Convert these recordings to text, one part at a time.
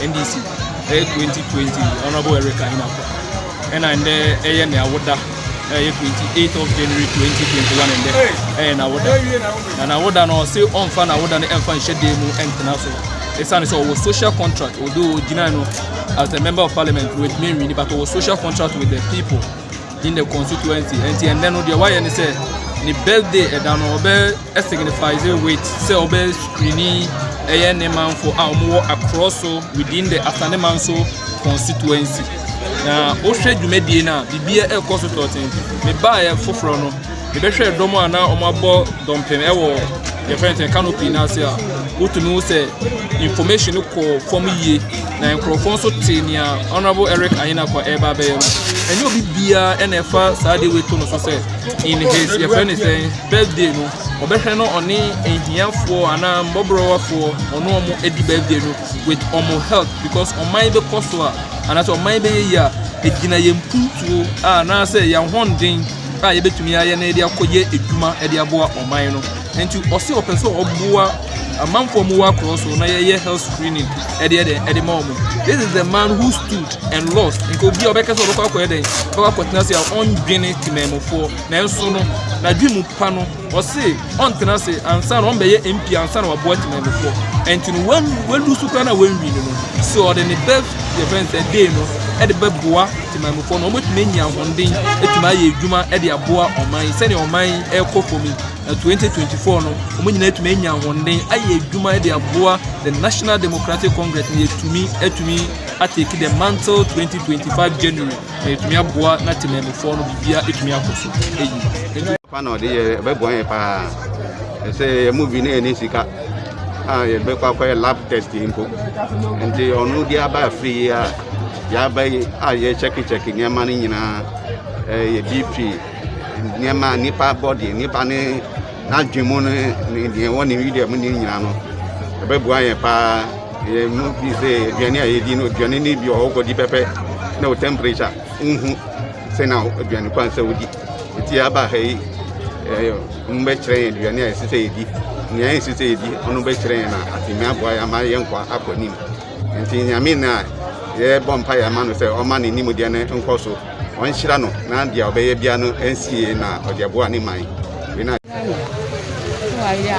ndc ɛyɛ eh, twenty twenty honourable eric ayinafo ɛna ndɛ ɛyɛ ne awoda ɛyɛ eh, twenty eight of january twenty twenty one ndɛ ɛyɛ eh, n'awoda na n'awoda no ɔsi ɔnfa n'awoda no ɛnfa nhyɛ dan mu ɛntena so ɛsan sɛ ɔwɔ social contract odo gyina no as a member of parliament with me wini but ɔwɔ social contract with the people. in the constituency ɛnti ɛnɛ no deɛ wayɛ ne sɛ ne birthday ɛda no ɔbɛ signifies with sɛ ɔbɛ screeni ɛyɛ ne manfo a wɔwɔ akorɔ so within the asaneman so constituency na wohwɛ dwumadie no a biribiara ɛrekɔ so tɔɔten mebaeɛ foforɔ no Mebɛhwɛɛ dɔm a na wɔabɔ dɔmpem wɔ yɛfrɛ no sɛ canopy no ase a wotumi hu sɛ information no kɔɔ fam yie na nkurɔfoɔ nso te nea honorable Eric Ayenakwa ɛreba abɛyɛ no ɛnyɛ obi biara ɛna ɛfa saa de wei to no so sɛ in his yɛfrɛ no sɛ birthday no ɔbɛhwɛ no ɔne ahiafoɔ anaa mmɔborɔwafoɔ ɔne ɔmo adi birthday no with ɔmo help because ɔman bɛkɔ so a anaasɛ ɔman bɛyɛ yie a ɛgyina yɛn mpuntuo a anaasɛ yɛn ahoɔden a yɛbɛtumi ayɛ na yɛde akɔyɛ adwuma de aboa ɔman no nti ɔse ɔpɛ sɛ ɔboa amanfoɔ mu wɔ akorɔ so na yɛyɛ health screening ɛde ɛde ɛde ma ɔmo this is the man who stood and lost nka obi a ɔbɛka sɛ ɔbɛkɔ akɔyɛ dɛn ɔbɛkɔ akɔtena ase a ɔndwene temamufoɔ nanso no n'adwene mu pa no Ɔse ɔntena ase ansa na ɔmbɛyɛ MP ansa na waboa Temanmufoɔ ɛnti no wan walusu koraa na wanwin no no se ɔde ne best yɛfrɛ no sɛ day no ɛde bɛboa Temanmufoɔ na ɔmo atumi anya ahoɔnden atumi ayɛ adwuma ɛde aboa ɔman yi sɛnea ɔman yi ɛkɔ fam yi na 2024 no ɔmo nyinaa atumi anya ahoɔnden ayɛ adwuma ɛde aboa the National Democratic Congress na yɛtumi atumi atake the mantle 2025 January Na ɛtumi aboa na temamufoɔ no biribiara ɛtumi akɔ so ɛyi. Papa na ɔde yɛ ɛbɛboa yɛ paa ɛsɛ yɛ mu bi na ɛne sika a yɛbɛkɔ akɔyɛ lab test mpo nti ɔno de aba afiri yi a yɛaba yi a yɛkyɛkekyɛke nneɛma no nyinaa ɛyɛ bp nneɛma a nipa bɔdeɛ nipa ne N'adwene mu no ne deɛ ɛwɔ ne Yuda mu ne nyinaa no, ɛbɛboa yɛn paa. Yɛn mu bi sɛ aduane a yɛdi no, aduane no bi wɔ hɔ wokɔdi pɛpɛ na wo temperature wonhu sɛ na aduane kwan sɛ wodi. Nti aba ha yi, mobɛkyerɛ yɛn aduane a ɛsɛ sɛ yɛdi, nea ɛnsɛ sɛ yɛdi, ɔno bɛkyerɛ yɛn na atumi aboa yɛn ama yɛn nkwa akɔ anim. Ntsi Nyame no a yɛbɔ mpae ma no sɛ ɔmma ne nimdeɛ no nkɔ so, ɔnhyira no na dza ɔbɛyɛ biara no ensi yie na ɔdze aboa ne man. Wei na. Ghana so ayɛ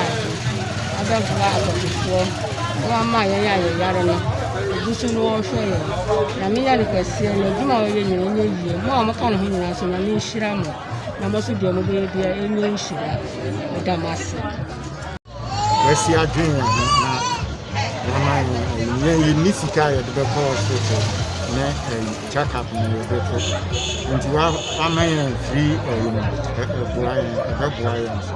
adze abɛboa adɔfofoɔ na wama yɛn a yɛyare no ogu so na ɔrehwɛ yɛn. Nyame yɛ no kɛseɛ na adwuma a ɔyɛ nyina ɛnyɛ yie. Mo a moka ne ho nyinaa nso Nyame nhyira mo na mo nso deɛ mobɛyɛ biara ɛnyɛ nhyira. Meda mo ase. Wɔasi adwene yɛn ho na wɔama yɛn ayi. Yɛn yɛnni sika a yɛde bɛkɔ hospital ne ayi check up na yɛde kɔ. Nti wɔama yɛn free ayi no ɛboa yɛn ɛbɛboa yɛn nso.